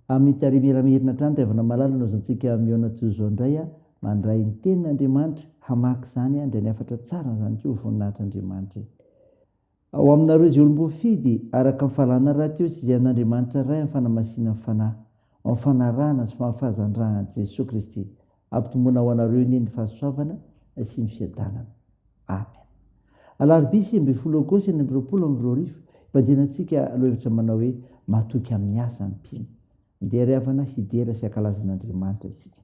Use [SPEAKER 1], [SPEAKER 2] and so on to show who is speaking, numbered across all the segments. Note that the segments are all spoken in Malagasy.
[SPEAKER 1] Amin'ny tary miramirina hatrany Taivana malala no azontsika mihaona toy izao indray a! Mandray ny tenin'Andriamanitra, hamaky izany a, indray ny hafatra tsara an'izany koa, voninahitr'Andriamanitra e! Ao aminareo izay olom-boafidy, araka ny fahalalana rahateo sy izay an'Andriamanitra Ray amin'ny fanamasinan'ny Fanahy, ao amin'ny fanarahana sy fahafahazan-dRahan'i Jesoa Kristy, ampitomboina ho anareo anie ny fahasoavana sy ny fiadanana. Amen. Alarobia sivy ambin'ny folo Aogositra enina amby roapolo amby roa arivo, ibanjinantsika lohahevitra manao hoe Matoky amin'ny asa ny mpino. Andeha ry havana hidera sy hankalaza an'Andriamanitra isika.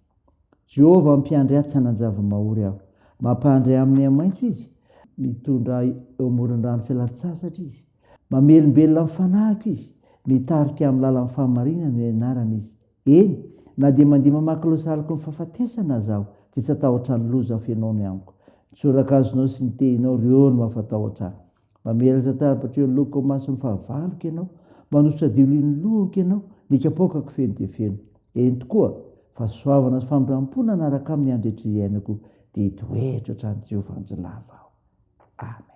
[SPEAKER 1] Jehovah ampiandry ahy tsy hanan-java-mahory aho. Mampandry ahy amin'ny haimaitso izy. Mitondra ahy eo amoron'ny rano fialan-tsasatra izy. Mamelombelona ny fanahiko izy. Mitarika ahy amin'ny lalan'ny fahamarinana ny anarany izy. Eny, na dia mandeha mamaky laozaliky ny fahafatesana aza aho, dia tsy hatahotra ny loza feno ao ny amiko. Ny tsoraka azonao sy ny tehinao, ireo no mampatahotra ahy. Mamelatra tarabatro eo loko ao mason'ny fahavaloko ianao, manosotra diolino lohako ianao, ny kapoakako feno dia feno. Eny tokoa, fahasoavana sy famindram-po nanaraka aho amin'ny andro rehetra iainako, dia hitoetra hatrany Jehovah andro lava aho. Amen.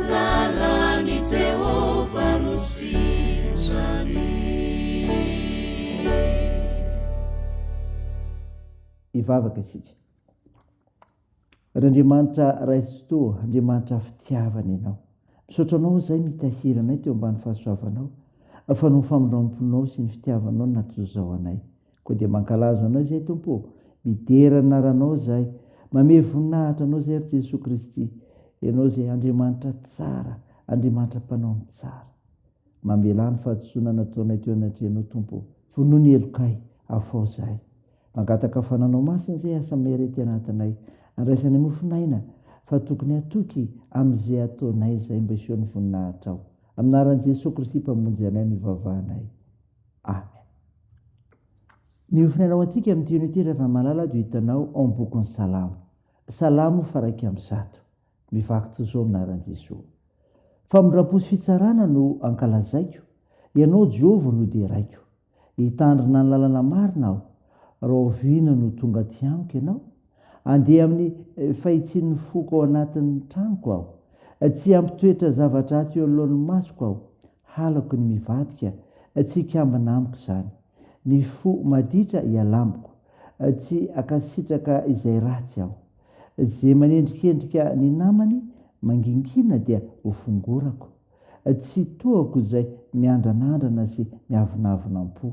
[SPEAKER 2] Lalan'i Jehovah no sitrany.
[SPEAKER 1] Hivavaka isika. Ry Andriamanitra Ray sy Toa, Andriamanitra fitiavana Ianao. Misaotra Anao izay mitahiry anay teo ambany fahasoavanao, fa noho ny famindram-ponao sy ny fitiavanao no naha toy izao anay. Koa dia mankalazo Anao izay Tompo ô, midera ny anaranao izahay, mamehy voninahitra Anao izay ry Jesoa Kristy, Ianao izay Andriamanitra tsara, Andriamanitra mpanao ny tsara. Mamelà ny fahadisoana nataonay teo anatrehanao Tompo ô, vonoa ny helokay, afaho izahay. Mangataka fananao masina izay asa miarety anatinay, andraisanay mofon'aina fa tokony hatoky amin'izay ataonay izay mba hiseho ny voninahitrao. Amin'ny anaran'i Jesoa Kristy Mpamonjy anay no ivavahanay. Amen. Ny ofona anao antsika amin'ity unité Ravamalala dia hitanao ao amin'ny bokin'ny Salamo. Salamo faraika amin'ny zato. Mivaky toy izao minaran'i Jesoa. Famindram-po sy fitsarana no ankalazaiko, Ianao Jehovah no deraiko. Hitandrina ny lalana marina aho, rahoviana no tonga aty amiko Ianao? Andeha amin'ny eh, fahitsian'ny foko ao anatin'ny tranoko aho. Tsy hampitoetra zava-dratsy eo anoloan'ny masoko aho. Halako ny mivadika Tsy hikambana amiko izany Ny fo maditra iala amiko Tsy hankasitraka izay ratsy aho Ze manendrikendrika ny namany Mangingina dia ho fongorako Tsy tohako izay miandranandrana Sy miavonavona am-po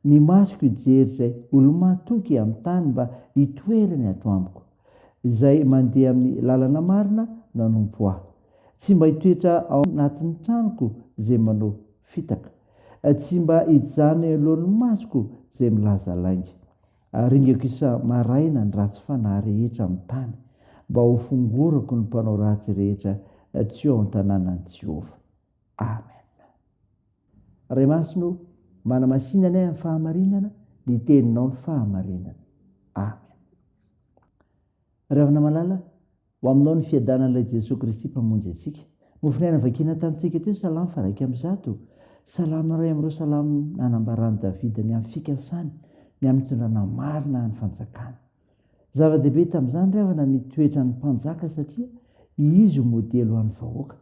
[SPEAKER 1] Ny masoko hijery izay olo-mahatoky amin'ny tany mba hitoerany ato amiko. Izay mandeha amin'ny lalana marina no hanompo ahy. Tsy mba hitoetra ao anatin'ny tranoko izay manao fitaka. Tsy mba hijanona eo anoloan'ny masoko izay milaza lainga. Aringako isa-maraina ny ratsy fanahy rehetra amin'ny tany, mba hofongorako ny mpanao ratsy rehetra tsy ao an-tanànan'i Jehovah. Amen. Ray Masina o, manamasina anay amin'ny fahamarinana, ny teninao ny fahamarinana. Amen. Ravina malala, ho aminao ny fiadanan'ilay Jesoa Kristy mpamonjy antsika. Mofon'aina vakina tamintsika teo, salamo faraika amin'ny zato. Salamo iray amin'ireo salamo nanambaran'i Davida ny amin'ny fikasany, ny amin'ny fitondrana marina an'ny fanjakana. Zava-dehibe tamin'izany ravina ny toetran'ny mpanjaka satria izy ho modely ho an'ny vahoaka.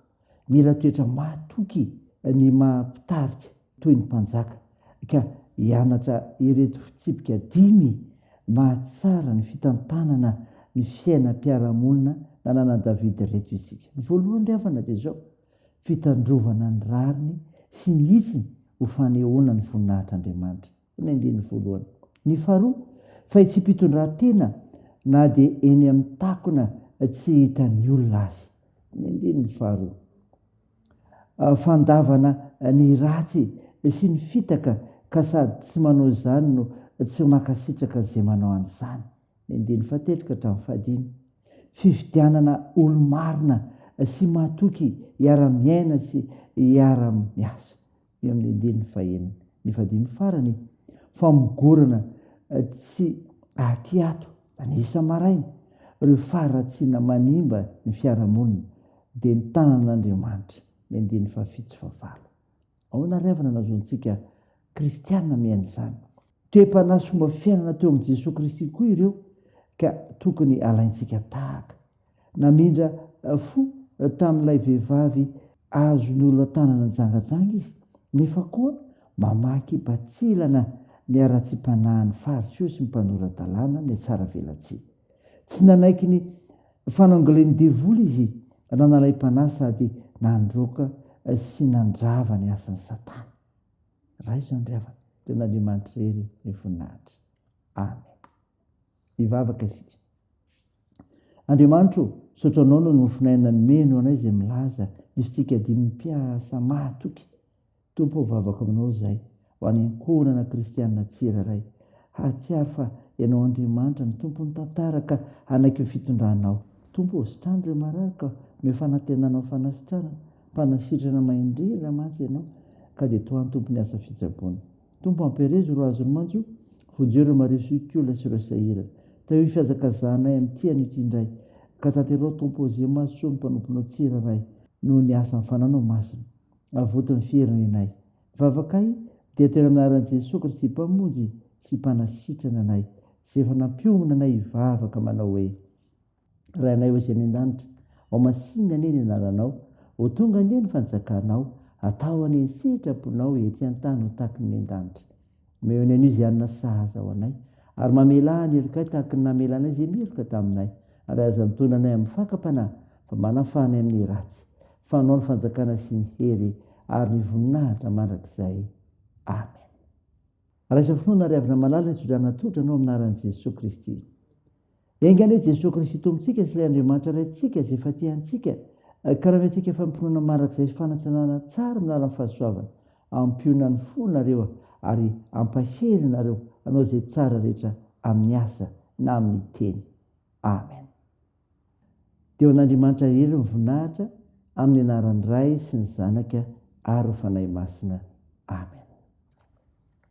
[SPEAKER 1] Mila toetra mahatoky ny maha mpitarika toy ny mpanjaka ka hianatra ireto fitsipika dimy mahatsara ny fitantanana ny fiainam-piarahamonina nananan'i Davida ireto isika. Ny voalohany ry havana dia izao, fitandrovana ny rariny sy ny hitsiny ho fanehoana ny voninahitr'Andriamanitra. Ny andininy voalohany. Ny faharoa, fa itsy am-pitondrantena na dia eny amin'ny takona tsy hitan'ny olona azy. Ny andininy faharoa. Fandavana ny ratsy sy ny fitaka ka sady tsy manao izany no tsy mankasitraka izay manao an'izany. Ny andininy fahatelo ka hatramin'ny fahadimy. Fifidianana olo-marina sy mahatoky hiara-miaina sy hiara-miasa. Eo amin'ny andininy fahenina, ny fadiny farany, famogorana tsy ahiato any isa-maraina ireo faharatsiana manimba ny fiarahamonina dia ny tanan'Andriamanitra, ny andininy fahafito sy fahavalo. Ahoana ary avy no nahazoantsika kristiana miaina izany? Toe-panahy sy fomba fiainana teo amin'i Jesoa Kristy koa ireo ka tokony alaintsika tahaka. Namindra fo tamin'ilay vehivavy azon'ny olona tanana nijangajanga izy, nefa koa mamaky batsilana ny haratsiam-panahin'ny faritio sy ny mpanora-dalàna nihatsaravelatsihy. Tsy nanaiky ny fanangolen'ny devoly izy raha nalaim-panahy sady nandroaka sy nandrava ny asan'i Satana. Raisiny ry havana, tena Andriamanitra irery ny voninahitra. Amen. Hivavaka isika. Andriamanitro, misaotra anao noho ny mofon'aina nomeno anay izay milaza ny fitsika dimy mpiasa mahatoky. Tompo ao vavaka aminao izay ho any ankohonana kristianina tsirairay. Hahatsiaro fa ianao Andriamanitra ny tompon'ny tantara ka hanaiky ny fitondranao. Tompo, sitrano ireo marary ka omeo fanantenana ho fanasitranana. Mpanasitrana maindrindra mantsy ianao ka dia toa antompony asa fitsaboana. Tompo amperezo ro azony mantsy o! Vonjeo ireo marivo sy olona sy ireo sahirana. Tahio fihazakazahanay amin'ny tia an'io ity indray. Ka tanterao Tompo ô ze mahazo soa ny mpanomponao tsirairay noho ny asan'ny fananao masina. Avoty ny fieriny anay. Vavakay dia atero amin'ny anaran'i Jesoa Kristy Mpamonjy sy Mpanasitrana anay, Izay efa nampiomana anay hivavaka manao hoe. Rainay Ozy any an-danitra, ao masinina anie ny anaranao, ho tonga anie ny fanjakanao, atao anie ny sitraponao ety an-tany ho tahaky ny an-danitra. Omeo ny Anosianina sahaza ho anay, ary mamelà ny helokay tahaky ny namelanay izay meloka taminay, ary aza antonona anay amin'ny fakam-panahy, fa manafaha anay amin'ny ratsy. Fanao ny fanjakana sy ny hery ary ny voninahitra mandrakizay. Amen. Raisa finoana ary avy namalala ny sodrana tsotra anao amin'ny anaran'i Jesoa Kristy. Enga anie Jesoa Kristy Tompontsika sy ilay Andriamanitra Raintsika izay efa tia antsika, ka raha miantsika fampinoana mandrakizay sy fanantenana tsara amin'ny lalan'ny fahasoavana, ampiona ny fo nareo ary ampahery nareo hanao izay tsara rehetra amin'ny asa na amin'ny teny. Amen. Dia ho an'Andriamanitra irery ny voninahitra amin'ny anaran'ny Ray sy ny Zanaka ary ny Fanahy Masina. Amen.